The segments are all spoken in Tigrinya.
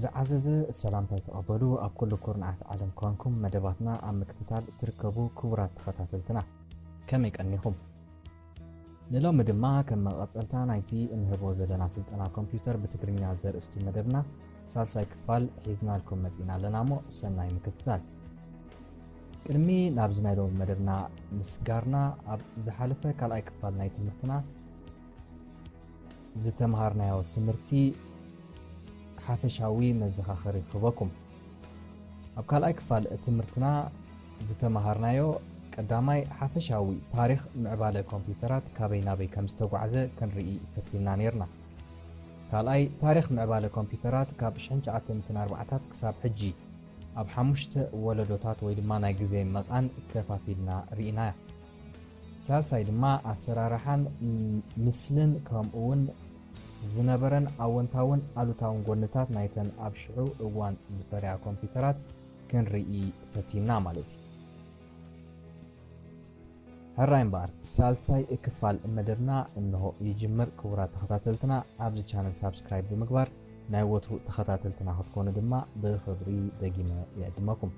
ዝዓዘዘ ሰላምታይ ተቐበሉ ኣብ ኩሉ ኩርናዓት ዓለም ኳንኩም መደባትና ኣብ ምክትታል ትርከቡ ክቡራት ተኸታተልትና ከመይ ቀኒኹም? ንሎሚ ድማ ከም መቐጸልታ ናይቲ እንህቦ ዘለና ስልጠና ኮምፕዩተር ብትግርኛ ዘርእስቱ መደብና ሳልሳይ ክፋል ሒዝናልኩም መጺእና ኣለና እሞ ሰናይ ምክትታል። ቅድሚ ናብዚ ናይ ሎሚ መደብና ምስጋርና ኣብ ዝሓለፈ ካልኣይ ክፋል ናይ ትምህርትና ዝተምሃርናዮ ትምህርቲ ሓፈሻዊ መዘኻኸሪ ክህበኩም ኣብ ካልኣይ ክፋል ትምህርትና ዝተመሃርናዮ ቀዳማይ ሓፈሻዊ ታሪኽ ምዕባለ ኮምፒዩተራት ካበይ ናበይ ከም ዝተጓዕዘ ክንርኢ ፈቲንና ነይርና። ካልኣይ ታሪኽ ምዕባለ ኮምፒዩተራት ካብ ሽሕን ትሽዓተ ሚእትን ኣርባዓታት ክሳብ ሕጂ ኣብ ሓሙሽተ ወለዶታት ወይ ድማ ናይ ግዜ መቓን ከፋፊልና ርኢናያ። ሳልሳይ ድማ ኣሰራርሓን ምስልን ከምኡውን ዝነበረን ኣወንታውን ኣሉታውን ጎንታት ናይተን ኣብ ሽዑ እዋን ዝፈርያ ኮምፒተራት ክንርኢ ፈቲና ማለት እዩ። ሕራይ እምበኣር ሳልሳይ እክፋል መደብና እንሆ ይጅምር። ክቡራት ተኸታተልትና ኣብዚ ቻነል ሳብስክራይብ ብምግባር ናይ ወትሩ ተኸታተልትና ክትኮኑ ድማ ብኽብሪ ደጊመ ይዕድመኩም።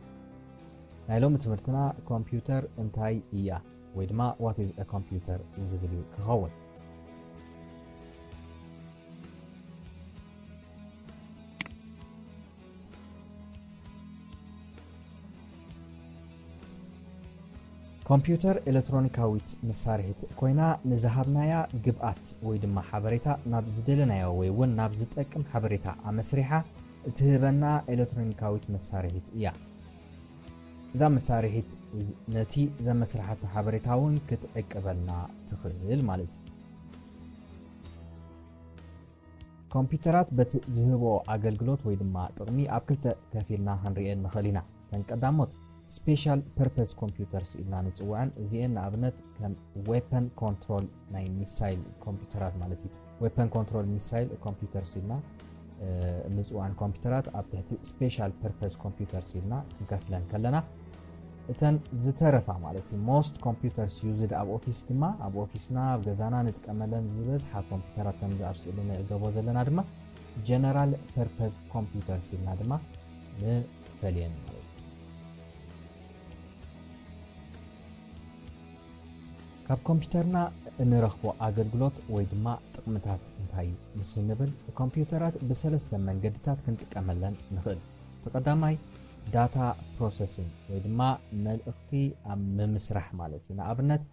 ናይ ሎሚ ትምህርትና ኮምፒውተር እንታይ እያ? ወይ ድማ ዋት ኢዝ እ ኮምፒውተር ዝብል እዩ ክኸውን። ኮምፒውተር ኤለትሮኒካዊት መሳርሒት ኮይና ንዝሃብናያ ግብኣት ወይ ድማ ሓበሬታ ናብ ዝደለናዮ ወይ እውን ናብ ዝጠቅም ሓበሬታ ኣመስሪሓ እትህበና ኤለትሮኒካዊት መሳርሒት እያ። እዛ መሳርሒት ነቲ ዘመስርሓቶ ሓበሬታ እውን ክትዕቅበልና ትኽእል ማለት እዩ። ኮምፒውተራት በቲ ዝህቦ ኣገልግሎት ወይ ድማ ጥቕሚ ኣብ ክልተ ከፊልና ክንሪኤን ንኽእል ኢና ተን ቀዳሞት ስፔሻል ፐርፐስ ኮምፒውተርስ ኢልና ንፅውዐን እዚኤን ንኣብነት ከም ዌፐን ኮንትሮል ናይ ሚሳይል ኮምፒተራት ማለት እዩ ዌፐን ኮንትሮል ሚሳይል ኮምፒተርስ ኢልና ንፅዋን ኮምፒተራት ኣብ ትሕቲ ስፔሻል ፐርፐስ ኮምፒተርስ ኢልና ክንከፍለን ከለና እተን ዝተረፋ ማለት እዩ ሞስት ኮምፒተርስ ዩዝድ ኣብ ኦፊስ ድማ ኣብ ኦፊስና ኣብ ገዛና ንጥቀመለን ዝበዝሓ ኮምፒተራት ከምዚ ኣብ ስእሊ ንዕዘቦ ዘለና ድማ ጀነራል ፐርፐስ ኮምፒተርስ ኢልና ድማ ንፈልየን ማለት እዩ ካብ ኮምፒተርና እንረኽቦ ኣገልግሎት ወይ ድማ ጥቕምታት እንታይ እዩ ምስ እንብል ኮምፒተራት ብሰለስተ መንገድታት ክንጥቀመለን ንኽእል። እቲ ቀዳማይ ዳታ ፕሮሰሲንግ ወይ ድማ መልእኽቲ ኣብ ምምስራሕ ማለት እዩ። ንኣብነት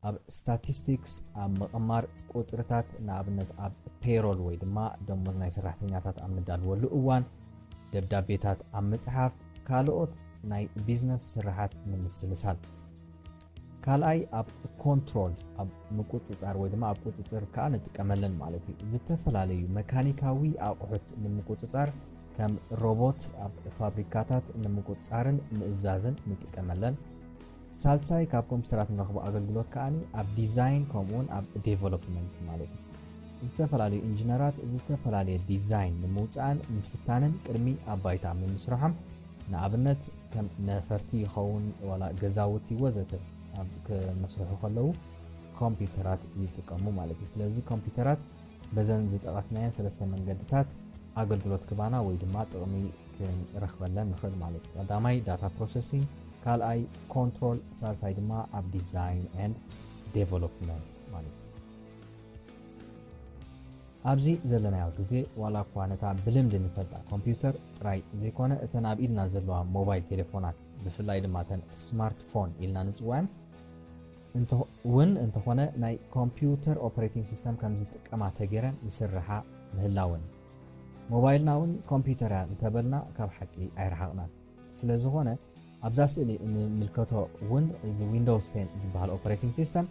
ኣብ ስታቲስቲክስ ኣብ ምቕማር ቁፅርታት ንኣብነት ኣብ ፔሮል ወይ ድማ ደሞዝ ናይ ሰራሕተኛታት ኣብ ንዳልወሉ እዋን ደብዳቤታት ኣብ ምፅሓፍ ካልኦት ናይ ቢዝነስ ስርሓት ንምስልሳል። ካልኣይ ኣብ ኮንትሮል ኣብ ምቁጽጻር ወይ ድማ ኣብ ቁጽጽር ከኣ ንጥቀመለን ማለት እዩ። ዝተፈላለዩ መካኒካዊ ኣቑሑት ንምቁጽጻር ከም ሮቦት ኣብ ፋብሪካታት ንምቁጽጻርን ምእዛዝን ንጥቀመለን። ሳልሳይ ካብ ኮምፒተራት ንረኽቦ ኣገልግሎት ከኣ ኣብ ዲዛይን ከምኡውን ኣብ ዴቨሎፕመንት ማለት እዩ። ዝተፈላለዩ ኢንጂነራት ዝተፈላለየ ዲዛይን ንምውፃእን ምፍታንን ቅድሚ ኣብ ባይታ ምምስርሖም ንኣብነት ከም ነፈርቲ ይኸውን ዋላ ገዛውቲ ወዘተ ኣብ ክመስርሑ ከለዉ ኮምፒተራት ይጥቀሙ ማለት እዩ። ስለዚ ኮምፒተራት በዘን ዝጠቐስናየን ሰለስተ መንገድታት ኣገልግሎት ክባና ወይ ድማ ጥቕሚ ክንረኽበለን ንኽእል ማለት እዩ። ቀዳማይ ዳታ ፕሮሰሲንግ፣ ካልኣይ ኮንትሮል፣ ሳልሳይ ድማ ኣብ ዲዛይን ኤንድ ዴቨሎፕመንት ማለት እዩ። ኣብዚ ዘለናዮ ግዜ ዋላ እኳ ነታ ብልምዲ ንፈልጣ ኮምፒውተር ጥራይ ዘይኮነ እተን ኣብ ኢድና ዘለዋ ሞባይል ቴሌፎናት ብፍላይ ድማ እተን ስማርትፎን ኢልና ንፅውዐን ውን እንተኾነ ናይ ኮምፒውተር ኦፕሬቲንግ ሲስተም ከምዝጥቀማ ተገይረን ይስርሓ ምህላወን። ሞባይልና ውን ኮምፒውተር እያ እንተበልና ካብ ሓቂ ኣይረሓቕናን። ስለዝኾነ ኣብዛ ስእሊ እንምልከቶ ውን እዚ ዊንዶውስ ቴን ዝበሃል ኦፕሬቲንግ ሲስተም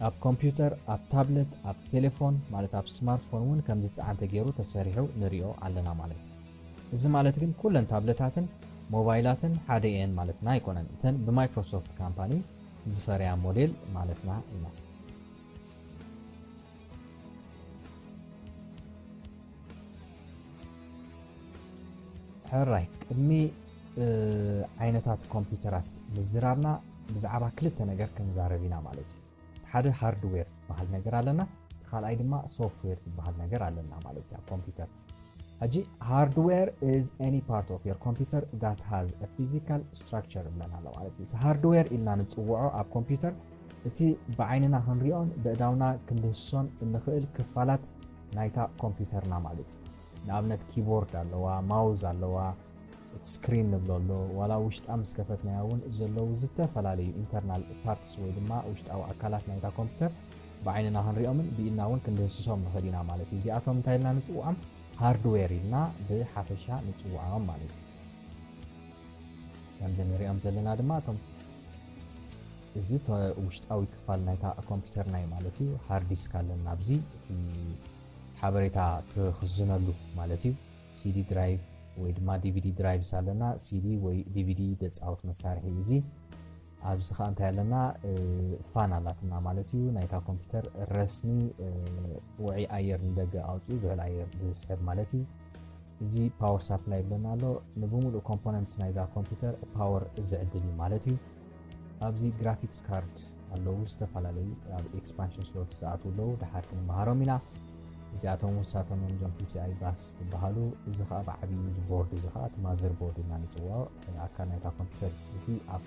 ኣብ ኮምፒውተር፣ ኣብ ታብለት፣ ኣብ ቴሌፎን ማለት ኣብ ስማርትፎን ውን ከምዝፀዓን ተገይሩ ተሰሪሑ ንሪኦ ኣለና ማለት እዩ። እዚ ማለት ግን ኩለን ታብለታትን ሞባይላትን ሓደ እየን ማለትና ኣይኮነን። እተን ብማይክሮሶፍት ካምፓኒ ዝፈርያ ሞዴል ማለትና ኢና። ሕራይ ቅድሚ ዓይነታት ኮምፒውተራት ምዝራብና ብዛዕባ ክልተ ነገር ክንዛረብ ኢና ማለት እዩ ሓደ ሃርድዌር ዝበሃል ነገር ኣለና እቲ ካልኣይ ድማ ሶፍትዌር ዝበሃል ነገር ኣለና ማለት እዩ ኣብ ኮምፒውተር ሕጂ ሃርድዌር ኢዝ ኤኒ ፓርት ኦፍ ዮር ኮምፒውተር ዳት ሃዝ አ ፊዚካል ስትራክቸር ይብለና ኣሎ ማለት እዩ እቲ ሃርድዌር ኢልና ንፅውዖ ኣብ ኮምፒውተር እቲ ብዓይንና ክንሪኦን በእዳውና ክንድህስሶን እንኽእል ክፋላት ናይታ ኮምፒውተርና ማለት እዩ ንኣብነት ኪቦርድ ኣለዋ ማውዝ ኣለዋ እቲ ስክሪን ንብሎ ኣሎ ዋላ ውሽጣ ምስ ከፈትናዮ እውን ዘለዉ ዝተፈላለዩ ኢንተርናል ፓርትስ ወይ ድማ ውሽጣዊ ኣካላት ናይታ ኮምፒውተር ብዓይንና ክንሪኦምን ብኢድና እውን ክንድህስሶም ንኽእል ኢና ማለት እዩ። እዚኣቶም እንታይ ኢልና ንፅውዖም? ሃርድዌር ኢልና ብሓፈሻ ንፅውዖም ማለት እዩ። ከምዚ ንሪኦም ዘለና ድማ እቶም እዚ ውሽጣዊ ክፋል ናይታ ኮምፒውተርና እዩ ማለት እዩ ሃርድ ዲስክ ኣለና ኣብዚ እቲ ሓበሬታ ክኽዝነሉ ማለት እዩ ሲዲ ድራይቭ ወይ ድማ ዲቪዲ ድራይቭስ ኣለና ሲዲ ወይ ዲቪዲ ደፃወት መሳርሒ እዚ ኣብዚ ከኣ እንታይ ኣለና ፋን ኣላትና ማለት እዩ ናይታ ኮምፒተር ረስኒ ውዑይ ኣየር ንደገ ኣውፅኡ ዝሑል ኣየር ዝስሕብ ማለት እዩ እዚ ፓወር ሳፕላይ ይብለና ኣሎ ንብምሉእ ኮምፖነንትስ ናይዛ ኮምፒተር ፓወር ዝዕድል እዩ ማለት እዩ ኣብዚ ግራፊክስ ካርድ ኣለዉ ዝተፈላለዩ ኣብ ኤክስፓንሽን ስሎት ዝኣትዉ ኣለዉ ድሓር ክንመሃሮም ኢና እዚኣቶም ውሳቶም እዮም እዞም ፒሲኣይ ባስ ዝበሃሉ እዚ ከዓ ብዓብዩ ቦርድ እዚ ከዓ እቲ ማዘር ቦርድ ኢና ንፅዋዖ ኣካል ናይታ ኮምፒተር እዚ ኣብ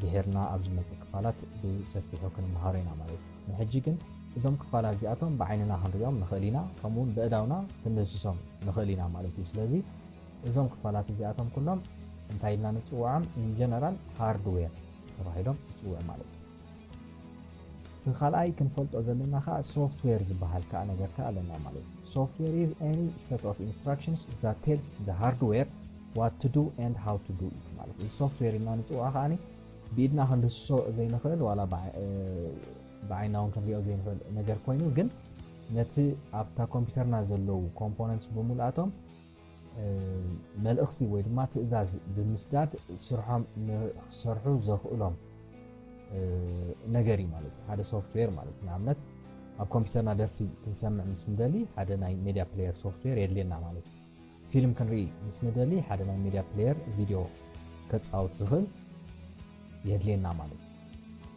ድሔርና ኣብ ዝመጽእ ክፋላት ብሰፊሑ ክንመሃሮ ኢና ማለት እዩ ንሕጂ ግን እዞም ክፋላት እዚኣቶም ብዓይንና ክንሪኦም ንኽእል ኢና ከምኡውን በእዳውና ክንደስሶም ንኽእል ኢና ማለት እዩ ስለዚ እዞም ክፋላት እዚኣቶም ኩሎም እንታይ ኢልና ንፅውዖም ኢንጀነራል ሃርድዌር ተባሂሎም ይፅውዑ ማለት እዩ እቲ ካልኣይ ክንፈልጦ ዘለና ከዓ ሶፍትዌር ዝበሃል ከዓ ነገር ከዓ ኣለና ማለት እዩ ሶፍትዌር ኢዝ ኤኒ ሰት ኦፍ ኢንስትራክሽንስ ዛት ቴልስ ዘ ሃርድዌር ዋት ቱ ዱ ኤንድ ሃው ቱ ዱ ኢት ማለት እዩ ሶፍትዌር ኢልና ንፅውዖ ከዓ ብኢድና ክንድስሶ ዘይንኽእል ዋላ ብዓይና እውን ክንሪኦ ዘይንኽእል ነገር ኮይኑ ግን ነቲ ኣብታ ኮምፒውተርና ዘለዉ ኮምፖነንትስ ብምልኣቶም መልእኽቲ ወይ ድማ ትእዛዝ ብምስዳድ ስርሖም ንክሰርሑ ዘኽእሎም ነገር እዩ ማለት ሓደ ሶፍትዌር ማለት ንኣብነት ኣብ ኮምፒውተርና ደርፊ ክንሰምዕ ምስ ንደሊ ሓደ ናይ ሜድያ ፕሌየር ሶፍትዌር የድልየና ማለት እዩ ፊልም ክንርኢ ምስ ንደሊ ሓደ ናይ ሜድያ ፕሌየር ቪድዮ ከፃወት ዝኽእል የድልየና ማለት እዩ።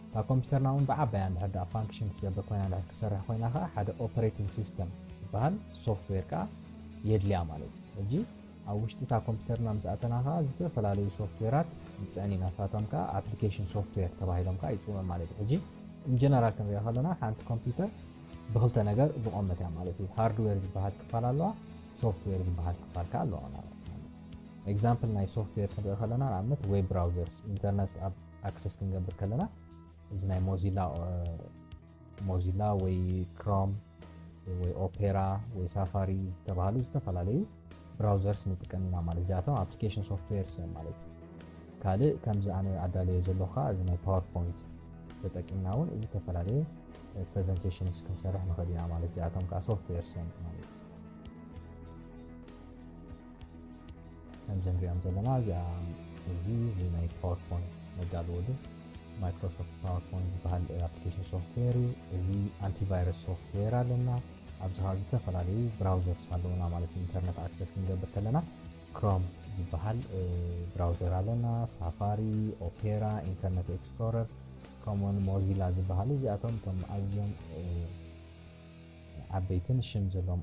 እታ ኮምፒተርና እውን ብዓባያ እንድሕር ድኣ ፋንክሽን ክትገብር ኮይና እንድሕር ክትሰርሕ ኮይና ከዓ ሓደ ኦፐሬቲንግ ሲስተም ዝበሃል ሶፍትዌር ከዓ የድልያ ማለት እዩ። ሕጂ ኣብ ውሽጢ እታ ኮምፒተርና ምስ ኣተና ከዓ ዝተፈላለዩ ሶፍትዌራት ንፅዕን ኢና ንሳቶም ከዓ ኣፕሊኬሽን ሶፍትዌር ተባሂሎም ከዓ ይፅውዑ ማለት እዩ። ሕጂ ኢንጀነራል ክንሪኦ ከለና ሓንቲ ኮምፒተር ብክልተ ነገር ዝቆመት እያ ማለት እዩ። ሃርድዌር ዝበሃል ክፋል ኣለዋ፣ ሶፍትዌር ዝበሃል ክፋል ከዓ ኣለዋ ማለት እዩ። ኤግዛምፕል ናይ ሶፍትዌር ክንርኢ ከለና ንኣብነት ዌብ ብራውዘርስ ኢንተርነት ኣብ ኣክሰስ ክንገብር ከለና እዚ ናይ ሞዚላ ሞዚላ ወይ ክሮም ወይ ኦፔራ ወይ ሳፋሪ ዝተባሃሉ ዝተፈላለዩ ብራውዘርስ ንጥቀም ኢና ማለት እዚኣቶም ኣፕሊኬሽን ሶፍትዌርስ እዮም ማለት እዩ ካልእ ከምዚ ኣነ ኣዳለዮ ዘለኹ ከዓ እዚ ናይ ፓወርፖይንት ተጠቂምና እውን እዚ ዝተፈላለየ ፕሬዘንቴሽንስ ክንሰርሕ ንኽእል ኢና ማለት እዚኣቶም ከዓ ሶፍትዌርስ እዮም ማለት እዩ ከምዚ ንሪኦም ዘለና እዚኣ እዚ እዚ ናይ ፓወርፖን መዳለዎ ዶ ማይክሮሶፍት ፓወርፖን ዝበሃል ኣፕሊኬሽን ሶፍትዌር እዩ እዚ ኣንቲቫይረስ ሶፍትዌር ኣለና ኣብዚ ከዓ ዝተፈላለዩ ብራውዘርስ ኣለውና ማለት ኢንተርነት ኣክሰስ ክንገብር ከለና ክሮም ዝበሃል ብራውዘር ኣለና ሳፋሪ ኦፔራ ኢንተርነት ኤክስፕሎረር ከምኡውን ሞዚላ ዝበሃሉ እዚኣቶም እቶም ኣዝዮም ዓበይትን ሽም ዘለዎም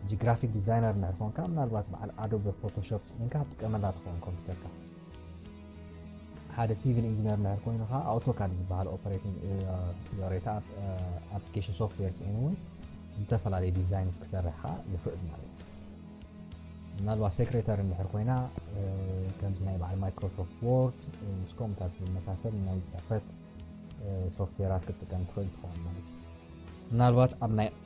ሕጂ ግራፊክ ዲዛይነር እንድሕር ኮንካ ምናልባት በዓል ኣዶበ ፎቶሾፕ ጽዒንካ ትጥቀመላ ትኸውን ኮምፒተርካ ሓደ ሲቪል ኢንጂነር እንድሕር ኮይኑ ከዓ ኣውቶካድ ዝበሃል ኦፐሬቲንግ ሬታ ኣፕሊኬሽን ሶፍትዌር ፅዒኑ እውን ዝተፈላለዩ ዲዛይንስ ክሰርሕ ከዓ ይኽእል ማለት እዩ ምናልባት ሴክሬታሪ እንድሕር ኮይና ከምዚ ናይ በዓል ማይክሮሶፍት ወርድ ምስ ኮምታት ዝመሳሰል ናይ ፅሕፈት ሶፍትዌራት ክትጥቀም ትኽእል ትኸውን ማለት እዩ ምናልባት ኣብ ናይ